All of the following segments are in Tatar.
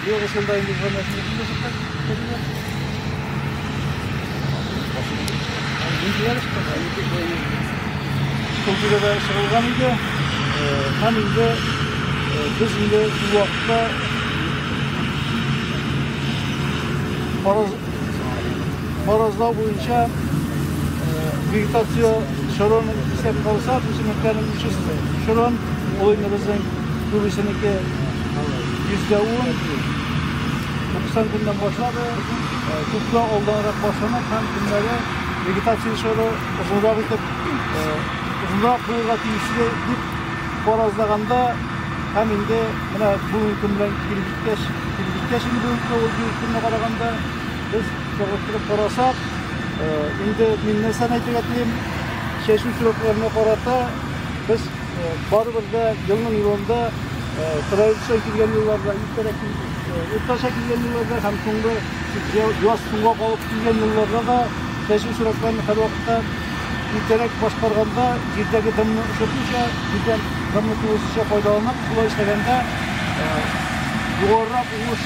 Югы шунда инде звоночны инде шунда. Культурада чыгылган иде. Һәм инде без инде бу вакытта фараз фаразлау буенча вегетация шорон исәп калса, үсемлекләрнең үсешен шорон, ул инде безнең күбесенеке Йөзгәвен 90 көннән башлады, күпкә алданрак башланып һәм көннәре вегетация чоры озынрак итеп озынрак булырга тиешле дип фаразлаганда һәм инде менә бүгенге көн белән килеп җиткәч, килеп җиткәч инде бүгенге көн ул бүгенге көнгә караганда без чагыштырып карасак, инде мин нәрсәне әйтергә телим, чәчү срокларына карата без Барыбыз да елның елында сыраилча килгән елларда, иртәрәк уртача килгән елларда һәм соңгы яз суга калып килгән елларда да чәчү чиратларын һәрвакытта иртәрәк башкарганда җирдәге дымны очыртуча, җирдән дымны тулысынча файдаланып, шулай эшләгәндә югарырак уңыш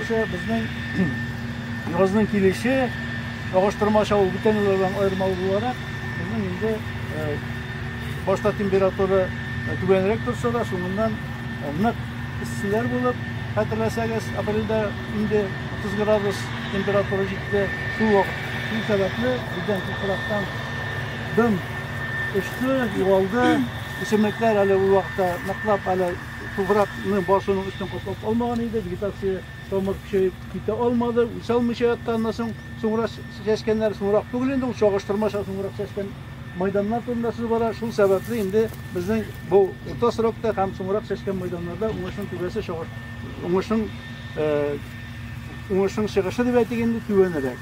Безнең язның килеше чагыштырмача ул бүтән еллардан аермалы буларак, безнең инде башта температура түбәнрәк торса да, соңыннан нык эсселәр булып, хәтерләсәгез, апрельдә инде 30 градус температура җитте. Шул вакыт шул сәбәпле бездән туфрактан дым очты, югалды. Үсемлекләр әле ул вакытта ныклап әле Туфракны басуның өстен каплап алмаган иде, вегетация тамыр көчәеп китә алмады, үсә алмыйча ятты аннан соң. Соңра чәчкәннәр, соңрак түгел инде, ул чагыштырмача соңрак чәчкән майданнар турында сүз бара. Шул сәбәпле инде безнең бу урта срокта һәм соңрак чәчкән майданнарда уңышның түбәсе чагыш уңышның уңышның чыгышы дип әйтик инде түбәнрәк.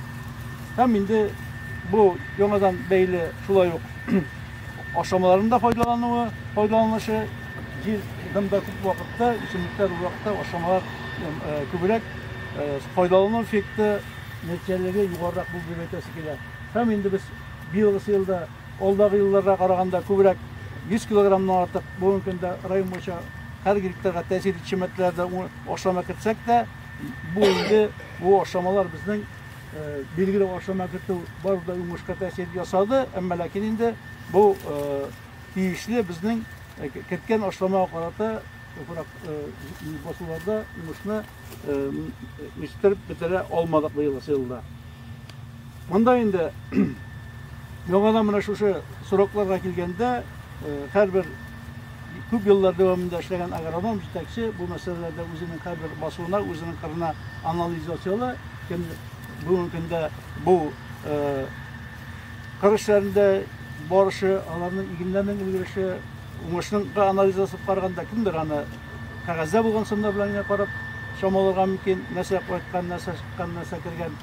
Һәм инде бу яңадан бәйле шулай ук Ашамаларында файдалануы, файдаланышы, җир дымда күп вакытта, үсемлекләр уракта ашамалар күбрәк файдалану эффекты нәтиҗәлеге югарырак булды дип әйтәсе килә. Һәм инде без быелгы елда, алдагы елларга караганда күбрәк 100 килограммнан артык бүгенге көндә район буенча һәр гектарга тәэсир итүче матдәләрдә ашама кертсәк тә, бу инде бу ашамалар безнең Билгеле ашына кертү бары да уңышка тәэсир ясады, әмма ләкин инде бу тиешле безнең керткән ашламага карата басуларда уңышны үстереп бетерә алмадык быел елда. Монда инде яңадан менә шушы срокларга килгәндә һәрбер Күп еллар дәвамында эшләгән агроном, җитәкче бу мәсьәләләрдә үзенең һәрбер басуына, үзенең кырына анализ ясыйлар. Кем бүгенге көндә бу кыр эшләрендә барышы, аларның игеннәрнең өлгереше, уңышның анализ ясап караганда кемдер аны кәгазьдә булган сымнар белән генә карап чамаларга мөмкин, нәрсә кайткан, нәрсә чыккан, нәрсә кергән.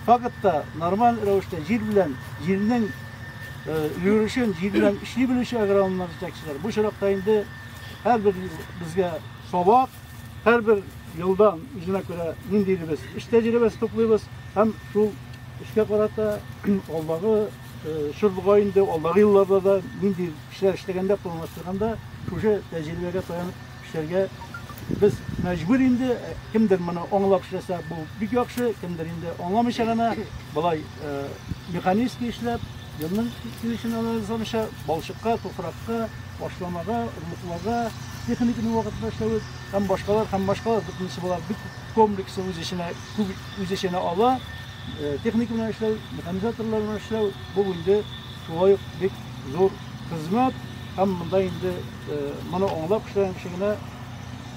Фактта нормаль рәвештә җир белән җирнең өлгерүчән җир белән эшли белүче агрономнар җитәкчеләр. Бу чиракта инде һәрбер безгә сабак, һәрбер елдан үзенә күрә ниндидер без эш тәҗрибәсе туплыйбыз һәм шул эшкә карата алдагы чорда инде алдагы елларда да нинди эшләр эшләгәндә планлаштырганда шушы тәҗрибәгә таянып Эшләргә без мәҗбүр инде. Кемдер моны аңлап эшләсә, бу бик яхшы, кемдер инде аңламыйча гына, болай механически эшләп, елның килешен анализламыйча, балчыкка, туфракка, ашламага, орлыкларга, техниканың вакытында эшләве һәм башкалар һәм башкалар бөтенесе болар бик комплексы үз эченә күп үз эченә ала техника белән эшләү механизаторлар белән эшләү бу инде шулай ук бик зур Хезмәт һәм монда инде моны аңлап эшләгән кеше генә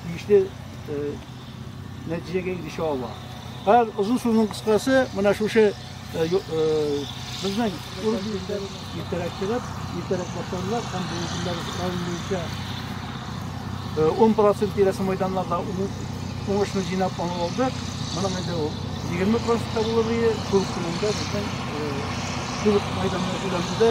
тиешле нәтиҗәгә ирешә ала. Һәр озын сүзнең кыскасы менә шушы безнең иртәрәк чыгып, иртәрәк башланлар һәм бүгеннәр район буенча 10 процент тирәсе мәйданнарда уңышны җыйнап аңлап алдык. Моның инде ул 20 процентка булыр иде, шул көнендә безнең шул мәйданны өйләндерде.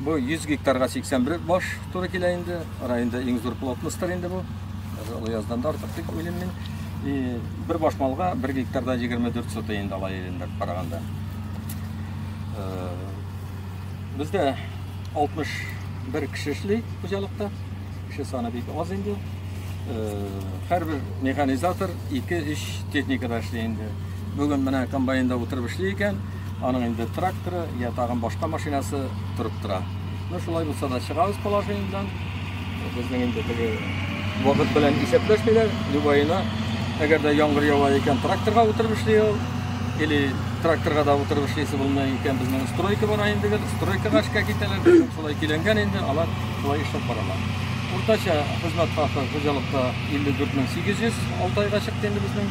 Бу 100 гектарга 81 баш туры килә инде. Районда иң зур плотностьтер инде бу. Олы яздан да артык дип уйлыйм мин. И бер баш малга 1 гектарда 24 сотый инде ала ирендә караганда. Э, бездә 61 кеше эшли хуҗалыкта. Кеше саны бик аз инде. Э, һәрбер механизатор 2-3 техникада эшли инде. Бүген менә комбайнда утырып эшли икән. аның инде тракторы, я тагын башка машинасы торып тора. Ну, шулай булса да чыгабыз положениедән. Безнең инде теге вакыт белән исәпләшмиләр. Любаена, әгәр дә яңгыр ява икән, тракторга утырып эшли ул. Или тракторга да утырып эшлисе булмый икән, безнең стройка бара инде гел, стройкага эшкә китәләр. Шулай киләнгән инде, алар шулай эшләп баралар. Уртача хезмәт хакы хуҗалыкта 54 800 6 айга чыкты инде безнең.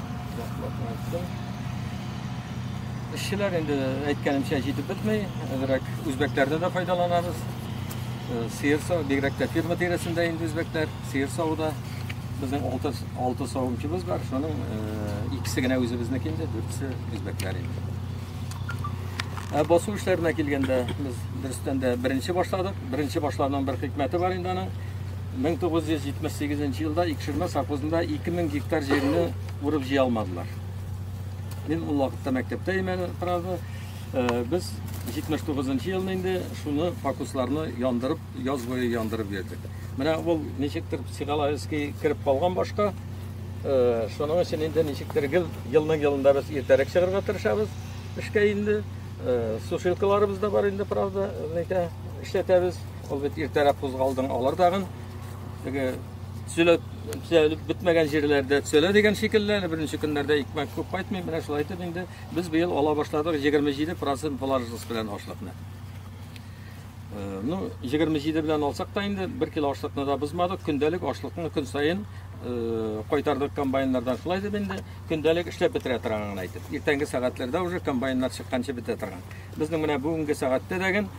Эшчеләр инде әйткәнемчә җитеп бетми, әзрәк үзбәкләрне дә файдаланабыз. Э, сыер сау, бигрәк тә фирма тирәсендә инде үзбәкләр, сыер сауда. Безнең 6 6 савымчыбыз бар, шуның э, икесе генә үзебезнеке инде, дүртсе үзбәкләр инде. Ә басу эшләренә килгәндә, без дөрестән дә беренче башладык. Беренче башлауның бер хикмәте бар инде аның. Мең тугыз йөз җитмеш сигезенче елда Икшермә совхозында ике мең гектар җирне урып җыя алмадылар. Мин ул вакытта мәктәптә имән торарды. Э, без 79-нчы елны инде шуны фокусларны яндырып, яз буе яндырып йөрдек. Менә ул ничектер психологически кереп калган башка. Э, шуның өчен инде ничектер гел елның елында без иртәрәк чыгарга тырышабыз. Эшкә инде э, сушилкаларыбыз да бар инде, правда, ләкин эшләтәбез. Ул бит иртәрәк кузгалдың, алар тагын теге төзелеп төзелеп бетмәгән җирләрдә төзелә дигән шикелле, әле беренче көннәрдә икмәк күп кайтмый, менә шулай итеп инде без быел ала башладык 27% положительс белән ашлыкны. Э, ну, 27 белән алсак та инде 1 кило ашлыкны да бозмадык, көндәлек ашлыкны көн саен э, кайтардык комбайннардан. Шулай дип инде көндәлек эшләп бетерә торганын әйтеп. Иртәнге сәгатьләрдә уже комбайннар чыкканчы бетә торган. Безнең менә бүгенге сәгатьтә дәген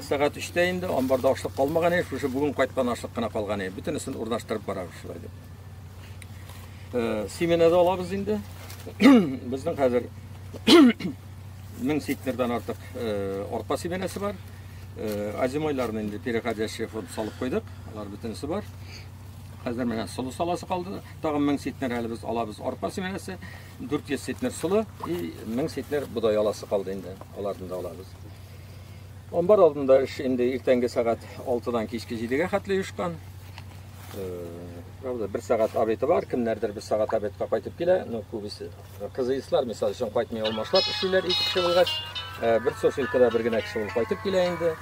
Сәгать өчтә инде, амбарда ашлык калмаган иде, шушы бүген кайткан ашлык кына калган иде. Бөтенесен урнаштырып барабыз шулай дип. Семенада алабыз инде. Безнең хәзер 1000 сектардан артык арпа семенасы бар. Азимойларны инде переходящий фонд салып куйдык. Алар бөтенесе бар. Хәзер менә солы саласы калды. Тагын 1000 сектар әле без алабыз арпа семенасы, 400 сектар солы и 1000 сектар бодай аласы калды инде. Аларны да алабыз. Амбар алдында эш инде иртәнге сәгать 6-дан кичке 7-гә хәтле оешкан. Э, правда, бер сәгать обеты бар, кемнәрдер бер сәгать обетка кайтып килә, но күбесе кызыйслар, мисал өчен, кайтмый алмашлап эшлиләр ике кеше булгач, э, бер сушилкада бер генә кеше булып кайтып килә инде.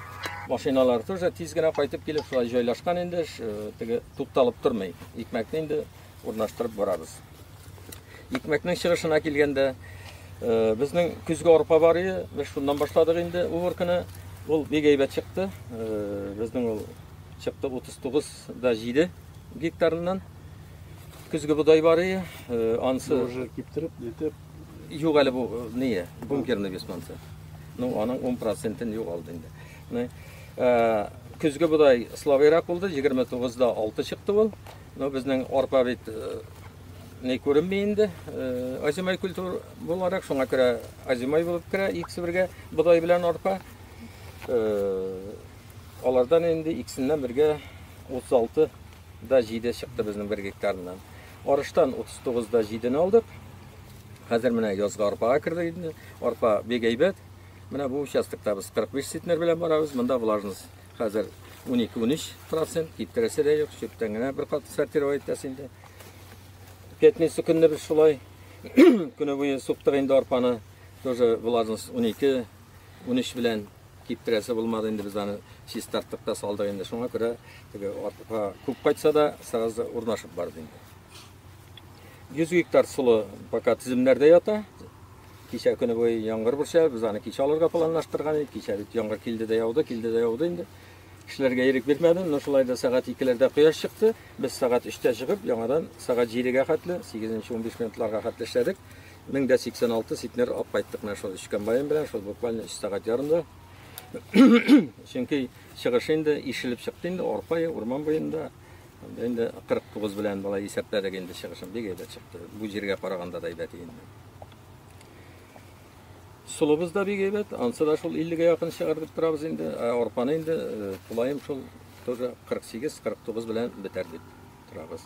Машиналар тоже тиз генә кайтып килеп, шулай җайлашкан инде, э, теге тукталып тормый. Икмәкне инде урнаштырып барабыз. Икмәкнең чыгышына килгәндә, э, безнең көзге арпа бар иде, без шуннан башладык инде уборканы. Ул бик әйбәт чыкты. Э, безнең ул чыкты 39 да 7 гектарыннан. Көзге бодай бар иде, э, ансы уже киптереп, нитеп. Юк әле бу не, бункерный без мансы. Ну, аның 10%-ын югалды инде. Күне көзге бодай слабыйрак булды, 29-да 6 чыкты ул. Ну, безнең арпа бит не күренми инде. Азимай культур буларак шуңа күрә азимай булып керә икесе бергә бодай белән арпа. Алардан инде икесеннән бергә 36 да 7 чыкты безнең бер гектарыннан. Арыштан 39 да 7 не алдык. Хәзер менә язга арпага керде инде. Арпа бик әйбәт. Менә бу участокта без 45 центнер белән барабыз. Монда влажность Хәзер 12-13 процент, киптерәсе дә юк, чүптән генә бер кат сортировать итәс инде. Пятница көнне без шулай көне буе суктык инде арпаны, тоже влажность 12, 13 белән киптерәсе булмады инде без аны чистарттык та салдык инде. Шуңа күрә теге арпа күп кайтса да, сразу урнашып барды инде. 100 гектар солы пока тиземнәрдә ята. Кичә көне буе яңгыр борча, без аны кичә алырга планлаштырган идек. Кичә бит яңгыр килде дә яуды, килде дә яуды инде. Кешеләргә ирек бирмәдем, но шулай да сәгать 2-ләрдә кояш чыкты. Без сәгать 3-тә чыгып, яңадан сәгать 7-гә хәтле, 8-15 минутларга хәтле эшләдек. 1086 ситмер алып кайттык менә шул өч комбайн белән, шул буквально 3 сәгать ярымда. Чөнки чыгыш инде ишелеп чыкты инде, арпа, урман буенда. Инде 49 белән болай исәпләдек инде чыгышым бик әйбәт чыкты. Бу җиргә караганда да әйбәт инде. Сулыбыз да бик әйбәт, ансы да шул 50-гә якын чыгар дип торабыз инде. Ә арпаны инде э, тулаем шул тоже 48-49 белән бетәр дип торабыз.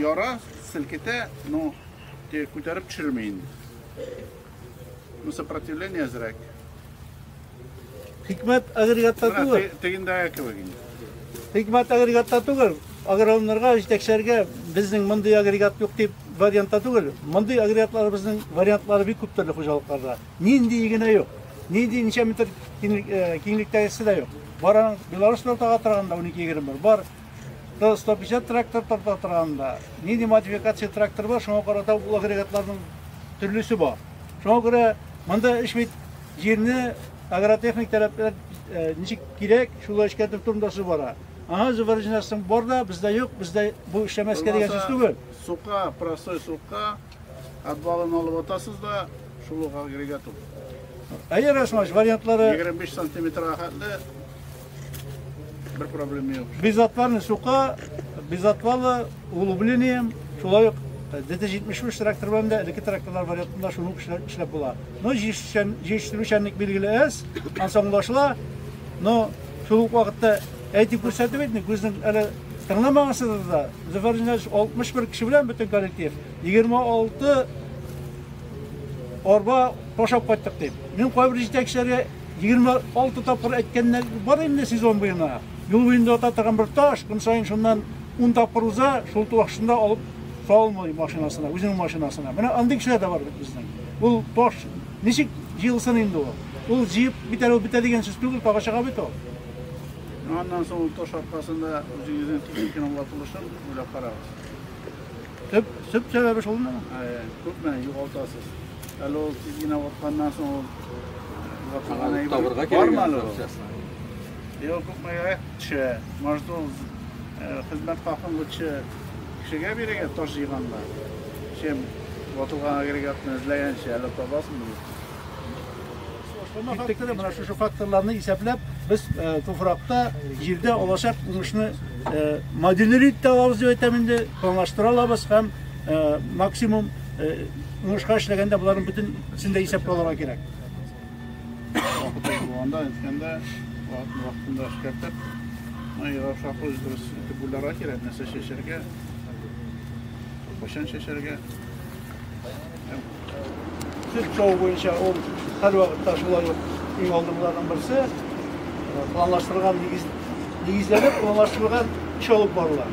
Яра, селкетә, но те күтәреп төшерми инде. Ну, сопротивление әзрәк. Хикмәт агрегатта түгел. Тегендәге кебек инде. Хикмәт агрегатта түгел. Агрономнарга, җитәкчеләргә безнең мондый агрегат юк дип вариантта түгел. Мондый агрегатларыбызның вариантлары бик күп төрле хуҗалыкларда. Нинди генә юк. Нинди ничә метр э, киңлектәгесе дә юк. Бара Беларусь тортага торганда 12-20 бар. Бар. То 150 трактор торта торганда, нинди модификация трактор бар, шуңа карата ул агрегатларның төрлесе бар. Шуңа күрә монда эш бит Җирне агротехник таләпләр ничек кирәк, шулай эшкәртү турында су бара. Ага, зубарҗинасың бар да, бездә юк, бездә бу эшләмәскә дигән сүз түгел. Сука, простой сука, отвалын алып атасыз да, шул ук агрегат ул. Әйе, Расмаш, вариантлары... 25 сантиметрга хәтле Бер проблема юк. Без атларны сука, без атлалы углублением, шулай ук ДТ-73 трактор белән дә элекке тракторлар вариантында шуны ук эшләп, эшләп була. Но җиештерүчәнлек билгеле әз, ансамлашла, но шул ук вакытта әйтеп күрсәтеп әйтми, күзнең әле тыңламагансызыз да, Зөфәр Ильич 61 кеше белән бөтен коллектив, 26 арба ташап кайттык дип. Мин кайбер җитәкчеләргә Егерме алты тапкыр әйткәннәр бар инде сезон буена. Юл буенда ята торган бер таш, көн саен шуннан ун тапкыр уза, шул ташында алып салмый машинасына, үзенең машинасына. Менә андый кешеләр дә бар бит безнең. Ул таш ничек җыелсын инде ул? Ул җыеп бетерү бетә дигән сүз түгел, тагы чыга бит ул. Аннан соң ул таш аркасында үзегезнең техниканың ватылышын уйлап карагыз. Төп, төп сәбәбе шул мына. Күпме югалтасыз. Әле ул тиз генә ватканнан соң ул ватылган әйбер табырга кирәк. Бармы әле ул? Йо, күпмегә төшә. Может, ул хезмәт хакын лучше кешегә бирергә таш җыйганда, чем ватылган агрегатны эзләгәнче әле табасың. факторы, менә шушы факторларны исәпләп, без э, туфракта, җирдә алачак уңышны э, модельләп тә алабыз дип әйтәм инде, планлаштыра алабыз һәм э, максимум уңышка эшләгәндә боларын бөтен сендә исәпкә алырга кирәк. Булганда, әйткәндә, вакытында эшкәртеп, майга шаклы дөрес итеп уйларга кирәк, нәрсә чәчәргә, кайчан чәчәргә. Сөт саву буенча ул һәрвакытта шулай ук иң алдынгыларның берсе. Планлаштырылган нигез нигезләнеп планлаштырылган эш алып барыла.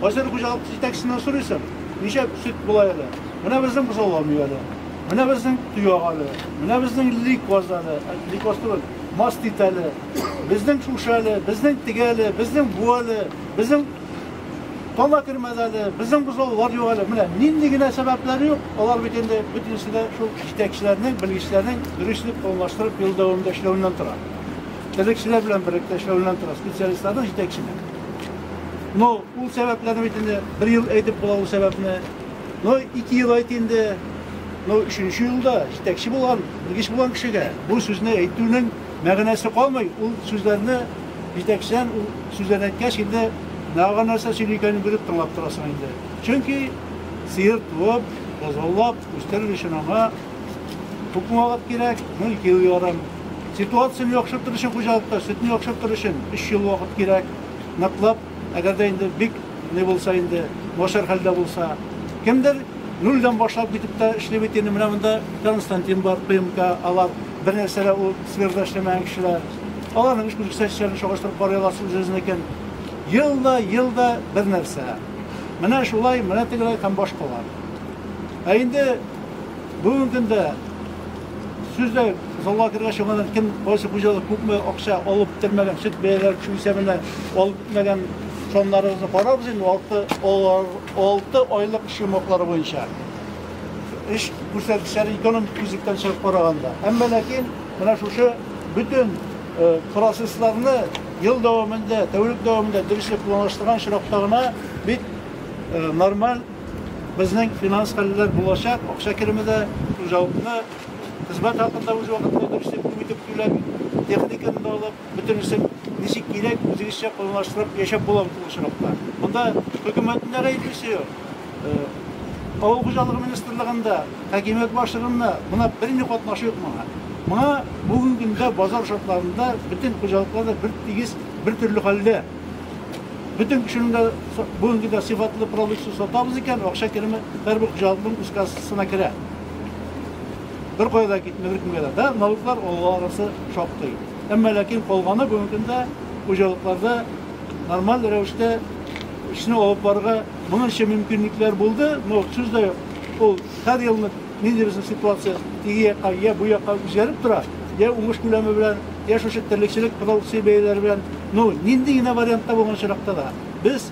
Кайсыр хуҗалык җитәкчесеннән сорыйсың, ничә сөт була әле? Менә безнең бозаулар мияле. Менә безнең төяк әле. Менә безнең ликоз әле. Ликоз түгел, мастит әле. Безнең шушы әле, безнең теге әле, безнең бу әле, безнең Кала кермәде әле, безнең бозаулар юк әле. Менә нинди генә сәбәпләр юк, алар бит инде бөтенесе дә шул җитәкчеләрнең, белгечләрнең дөрес итеп планлаштырып ел дәвамында эшләвеннән тора. Терлекчеләр белән берлектә эшләвеннән тора, специалистларның җитәкчеләр. Но ул сәбәпләрне бит инде бер ел әйтеп була ул сәбәпне. Но ике ел әйт инде. Но өченче елда җитәкче булган, белгеч булган кешегә бу сүзне әйтүнең мәгънәсе калмый, ул сүзләрне Җитәкчедән ул сүзләрне әйткәч, инде нага нәрсә сөйли икәнен белеп тыңлап торасың инде. Чөнки сыер туып, бозаулап үстерер өчен аңа күпме вакыт кирәк? Ну, ике ел ярым. Ситуацияне яхшыртыр өчен хуҗалыкта, сөтне яхшыртыр өчен өч ел вакыт кирәк. Ныклап Әгәр дә инде бик ни булса инде, начар хәлдә булса, кемдер нульдән башлап китеп тә эшли бит инде. Менә монда Константин бар, ПМК, алар бернәрсә дә ул сферада эшләмәгән кешеләр. Аларның эш күрсәткечләрен чагыштырып карый аласыз үзегезнекен. Ел да, ел да бер нәрсә. Менә шулай, менә тегеләй һәм башкалар. Ә инде бүгенге көндә Сүз дә залга кергәч яңадан кем кайсы хуҗалык күпме акча алып бетермәгән, сөт бәяләре төшү исәбенә алып бетмәгән саннарыбызны карарбыз инде алты, алты айлык эш йомгаклары буенча. Эш күрсәткечләре экономик күзлектән чыгып караганда. Әмма ләкин менә шушы бөтен процессларны ел дәвамында, тәүлек дәвамында дөресрәк планлаштырган очракта гына бит нормаль Безнең финанс хәлләр булачак, акча кереме дә хуҗалыкны хезмәт хакында үз вакытында дөрес дип күп итеп түләп, техниканы да алып, бөтенесен ничек кирәк, үзегезчә планлаштырып яшәп була бит ул очракта. Монда хөкүмәтнең дә гаеплесе юк. Авыл хуҗалыгы министрлыгында, хакимият башлыгында мына берни катнашы юк моңа. Моңа бүгенге көндә базар шартларында бөтен хуҗалыклар да бертигез, бертөрле хәлдә. Бөтен кешенең дә бүгенге дә сыйфатлы продукция сатабыз икән, акча кереме һәрбер хуҗалыкның үз кассасына керә. Беркая да китми, беркемгә дә. Да, налоглар алуларысы шактый. Әмма ләкин калганы бүгенге көндә хуҗалыкларда нормаль рәвештә эшне алып барырга моның өчен мөмкинлекләр булды, но сүз дә юк. Ул һәр елны Ниндидер ситуация теге якка йә бу якка үзгәреп тора, йә уңыш күләме белән, йә шушы терлекчелек продукция бәяләре белән. Ну, нинди генә вариантта булган очракта да, без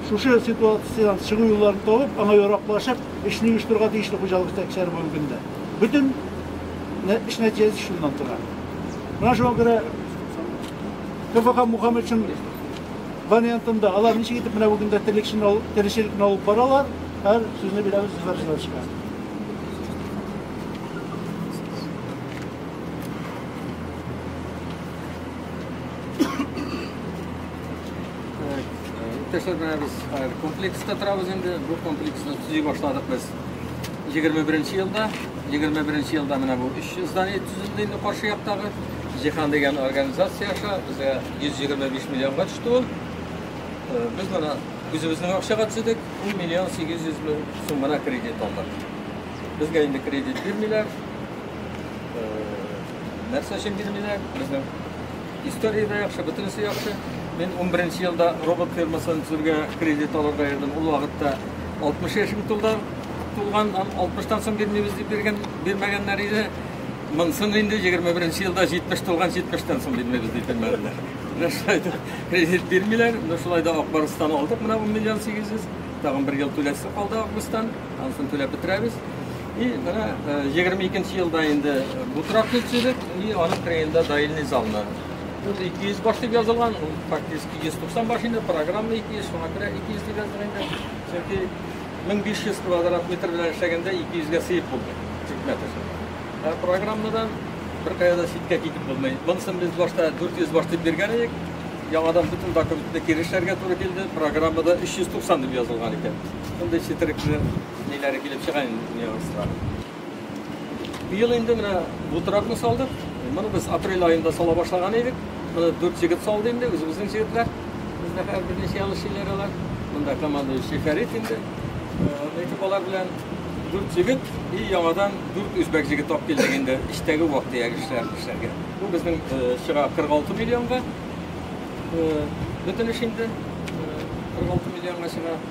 шушы ситуациядән чыгу юлларын табып, аңа яраклашып, эшне оештырырга тиешле хуҗалык җитәкчеләре бүгенге көндә. Бөтен эш нәтиҗәсе шуннан тора. Менә шуңа күрә КФХ Мухаммедшин вариантында алар ничек итеп менә бүген дә терлекчене, терлекчелекне алып баралар. Һәр сүзне бирәбез зифар җырлашка. Иптәшләр менә без хәзер комплекста торабыз инде. Бу комплексны төзи башладык без 21 елда. 21 елда менә бу 3 здание төзелде инде каршы яктагы. Җиһан дигән организация аша безгә 125 миллионга төште ул. Без менә Үзебезнең акчага төзедек, 1 миллион 800 мең сум гына кредит алдык. Безгә инде кредит бирмиләр. Э, нәрсә өчен бирмиләр? Безнең история дә яхшы, бөтенесе яхшы. Мин 11 елда робот фирмасын төзергә кредит алырга йөрдем. Ул вакытта 60 яшем тулды. Тулган 60 тан соң бирмибез дип биргән, бирмәгәннәр иде. Монсын инде 21 беренче елда 70 тулган 70 тан соң бирмәбез диде мәлләр. Менә шулай да кредит бирмиләр. Менә шулай да Акбарыстан алдык. Менә 10 миллион 800. Тагын бер ел түләсе калды августтан. Ансын түләп бетерәбез. И менә 22 нче елда инде бу торак төзедек. И аның кырыенда даилный залны. Ул 200 баш дип язылган. Ул фактически 190 баш инде программа 200, шуңа күрә 200 дип язган инде. Чөнки 1500 квадрат метр белән эшләгәндә 200 гә сыеп булды тикмә төшерде. Ә программадан беркая да читкә китеп булмый. Монысын без башта 400 баш дип биргән идек. Яңадан бөтен документны кире эшләргә туры килде. Программада 390 дип язылган икән. Мондый четерекле ниләре килеп чыга инде нюанслар. Быел инде менә бу тракны салдык. Моны без апрель аенда сала башлаган идек. Моны дүрт егет салды инде, үзебезнең егетләр. Бездә хәзер берничә ел эшлиләр алар. Монда командующий Фәрит инде. Э, Әйтеп алар белән дүрт егет и яңадан дүрт үзбәк егет алып килдек инде эчтәге вак дияр эшләр эшләргә. Бу безнең э, чыга 46 миллионга. Э, Бөтен эш инде 46 миллионга чыга.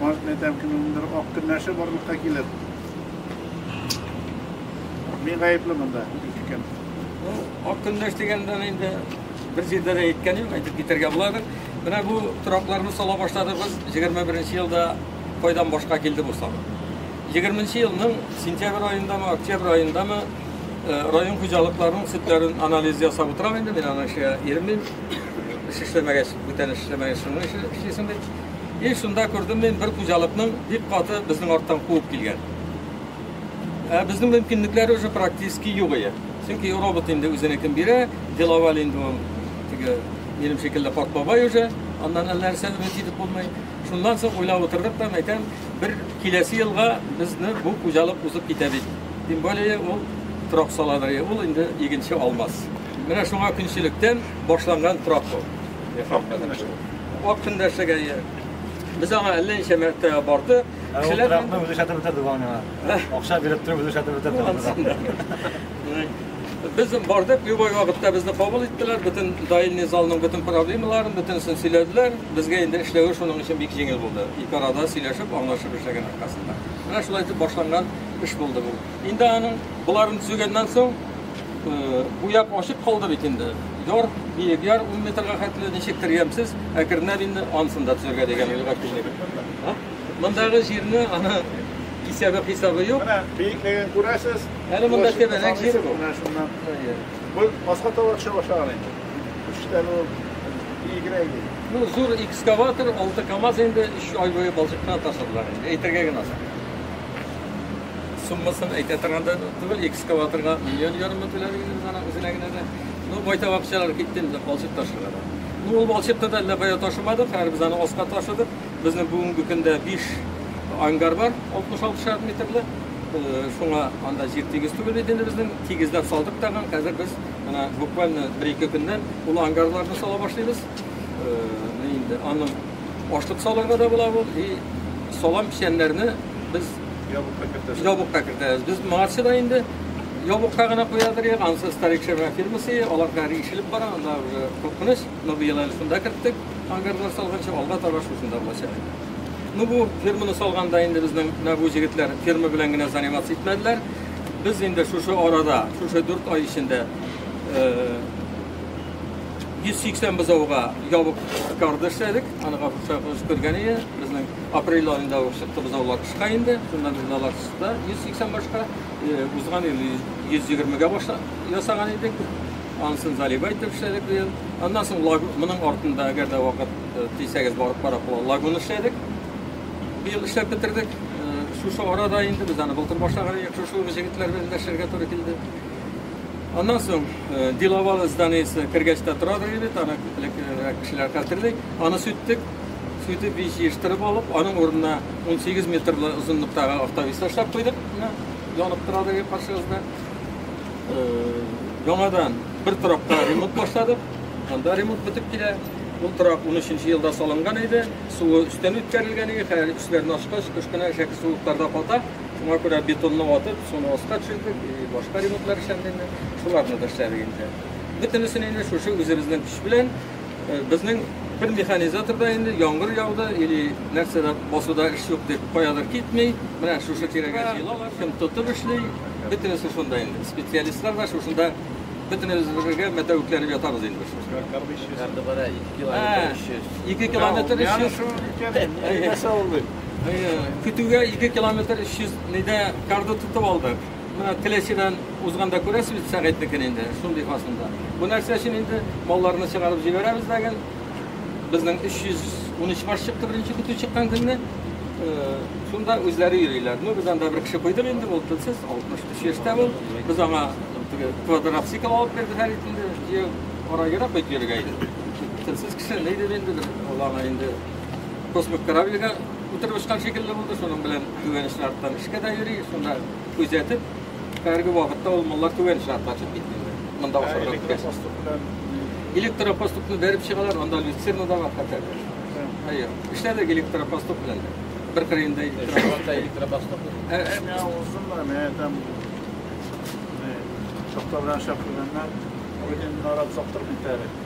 Может, мен там кемнеңдер ак көннәше барлыкка килер. Мин гаепле монда, ике кем. Ну, ак көннәш дигәндә инде бер җирдә дә әйткән юк, әйтеп китәргә буладыр. Менә бу торакларны сала башладыгыз 21 елда кайдан башка килде бу сала. 20 елның сентябрь аендамы, октябрь аендамы э, район хуҗалыкларының сөтләрен анализ ясап утырам инде, мин аны эшкә иремим. Эш эшләмәгәч, бүтән эш эшләмәгәч, шуның эше эшлисең бит. И шунда күрдем мин бер хуҗалыкның бик каты безнең арттан куып килгән. Ә безнең мөмкинлекләр уже практически юк иде. Чөнки робот инде үзенекен бирә, деловал инде ул теге минем шикелле карт бабай уже, аннан әллә нәрсә өмет итеп булмый. Шуннан соң уйлап утырдык та, әйтәм, бер киләсе елга безне бу хуҗалык узып китә бит. Тем более ул трак саладыр, ул инде игенче алмас. Менә шуңа көнчелектән башланган трак бу. Ак көндәшлек әйе. Без аңа әллә ничә мәртәбә бардык. Кешеләр трактны үзе шәтеп бетерде бу миңа. Акча биреп торып үзе шәтеп бетерде. Без бардык, любой вакытта безне кабул иттеләр, бөтен даилный залның бөтен проблемаларын, бөтенесен сөйләделәр. Безгә инде эшләве шуның өчен бик җиңел булды. Ике арада сөйләшеп, аңлашып эшләгән аркасында. Менә шулай итеп башланган эш булды бу. Инде аның боларын төзегәннән соң, бу як ачык калды бит инде. Яр, биек яр 10 метрга хәтле ничектер ямьсез, әкренләп инде анысын да төзергә дигән уйга килдек. Мондагы җирне аны кисәбе хисабы юк. Менә биеклеген күрәсез. Әле монда тәбәнәк җир бу. Менә шуннан. Бу башка тавык чыга башлаган инде. Үчтән ул биегрәк иде. Ну, зур экскаватор, 6 КАМАЗ инде 3 ай буе балчыктан ташладылар инде. Әйтергә генә соң. Суммасын әйтә торган да түгел, экскаваторга миллион ярымы түләдек инде ана үзенә генә дә. Ну, байтак акчалар китте инде балчык ташырга да. Ну, ул балчыкны да әллә кая ташымадык, хәер без аны аска ташыдык. Безнең бүгенге көндә 5 ангар бар, 66 шар метрлы. Э, шуңа анда җир тигез түгел бит инде безнең. Тигезләп салдык тагын. Хәзер без менә буквально 1-2 көннән ул ангарларны сала башлыйбыз. Э, инде аның Ашлык салырга да була ул, и салам печәннәрне без ябыкка кертәбез. Ябыкка кертәбез. Без моңарчы да инде ябыкка гына куядыр ек, анысы старик шәмә фирмасы, алар хәзер ишелеп бара, анда уже куркыныч. Но быел әле шунда керттек, ангарлар салганчы, алга таба шушында булачак инде. Ну бу фирманы салганда инде безнең менә бу җегетләр фирма белән генә заниматься итмәделәр. Без инде шушы арада, шушы 4 ай эчендә э, 180 бозауга ябык корда эшләдек. Аны капшагыз күргән иде. Безнең апрель аенда ук чыкты бозаулар тышка инде. Шунда без балалар чыкты. 180 башка э, узган ел 120-гә баша ясаган идек. Ансын залива итеп эшләдек быел. Аннан соң моның артында, әгәр дә вакыт э, тисәгез барып карап була, лагун эшләдек. Быел эшләп бетердек. Э, шушы арада инде без аны былтыр башлаган идек. Шушы җегетләр белән дәшергә туры килде. Аннан соң э, Диловалы зданиесе кергәч тә торадыр иде, аны күплек э, кешеләр хәтерли. Аны сүттек, сүтеп ич җыештырып алып, аның урынына 18 метрлы озынлыктагы автовис ташлап куйдык. Менә янып торадыр иде каршыгызда. Э, яңадан бер торакка ремонт башладык. Анда ремонт бетеп килә. Ул торак 13 елда салынган иде. Суы өстән үткәрелгән иде. Хәзер үчләрне ачкач, кыш кына шәкерт суыкларда ката. Шуңа күрә бетонны ватып, шуны аска төшердек, и башка ремонтлар эшләнде инде, шуларны да эшләдек инде. Бөтенесен инде шушы үзебезнең көч белән, э, безнең бер механизатор да инде яңгыр яуды или нәрсә дә басуда эш юк дип каядыр китми, менә шушы тирәгә җыелалар, кем тотып эшли, бөтенесе шунда инде. Специалистлар да шушында бөтенебез бергә мәтәвекләнеп ятабыз инде без шушында. Кардыбара 2 километр 300. Ә, 2 километр 300. Менә шул өлкән, нәрсә булды? Көтүгә 2 километр 300 нидә карда тотып алдык. Менә Теләчедән узганда күрәсез бит Сәгыйтнекен инде, шундый фасында. Бу нәрсә өчен инде малларны чыгарып җибәрәбез дә гел. Безнең 313 баш чыкты беренче көтү чыккан көнне. Шунда үзләре йөриләр. Ну, без анда бер кеше куйдык инде, ул телсез, 63 яшьтә ул. Без аңа квадроцикл алып бирдек һәр инде, җәяү ара-тирә кайтып йөрергә иде. Телсез кеше, ни дип инде, ул аңа инде. космик корабльгә утырып очкан шикелле булды, шуның белән түбән шарттан эшкә дә йөри, шунда күзәтеп, хәзерге вакытта ул маллар түбән шартка очып киткәннәр. Монда ашарга беткәч. Электропоступны бәреп чыгалар, анда люцерна да бар хәтта. Әйе. Эшләдек электропоступ белән дә. Бер кырыенда электропоступ. Ә, ә, узыннар, менә там шахтадан шахтадан. Ой, дин нарат соктырмый тәрәк.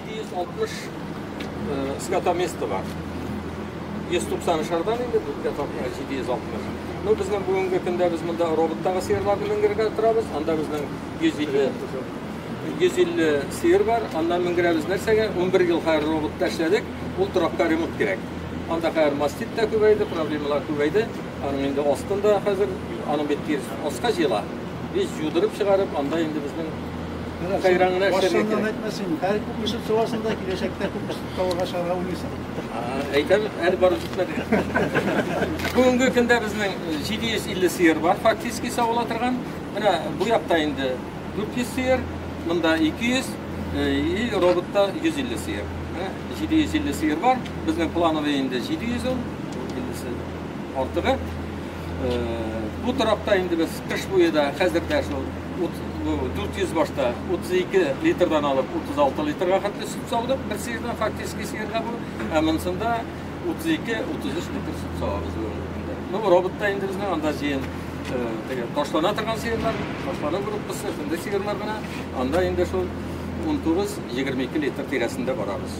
260 скотоместа бар. 190 шардан инде бүтә тапкыр 760. Ну безнең бүгенге көндә без монда роботтагы сыерларны менгергә торабыз. Анда безнең 150 150 сыер бар. Анда менгерәбез нәрсәгә? 11 ел хәзер роботта эшләдек. Ул торакка ремонт кирәк. Анда хәзер мастит та күбәйде, проблемалар күбәйде. Аның инде астында хәзер аның бит тирс аска җыела. Без юдырып чыгарып, анда инде безнең Менә сайран гына эшләргә кирәк. Башыннан әйтмә син. Хәл күп эшеп чыгасың да киләчәктә күп эш табарга чыгарга уйлыйсың. Әйтәм, әле барып җитмәде. Бүгенге көндә безнең 750 сыер бар, фактически савыла торган. Менә бу якта инде 400 сыер, монда 200 и роботта 150 сыер. Менә 750 сыер бар. Безнең плановый инде 700 ул. 50 артыгы. Бу торакта инде без кыш буе да хәзер дә шул Ут бу 400 башта 32 литрдан алып 36 литрга хәтле сөт саудык бер сыердан фактически сыерда бу, ә монсында 32-33 литр сөт савабыз бүгенге көндә. Ну роботта инде безнең анда җыен теге ташлана торган сыерлар, ташлана группасы, шундый сыерлар гына. Анда инде шул 19-22 литр тирәсендә барабыз.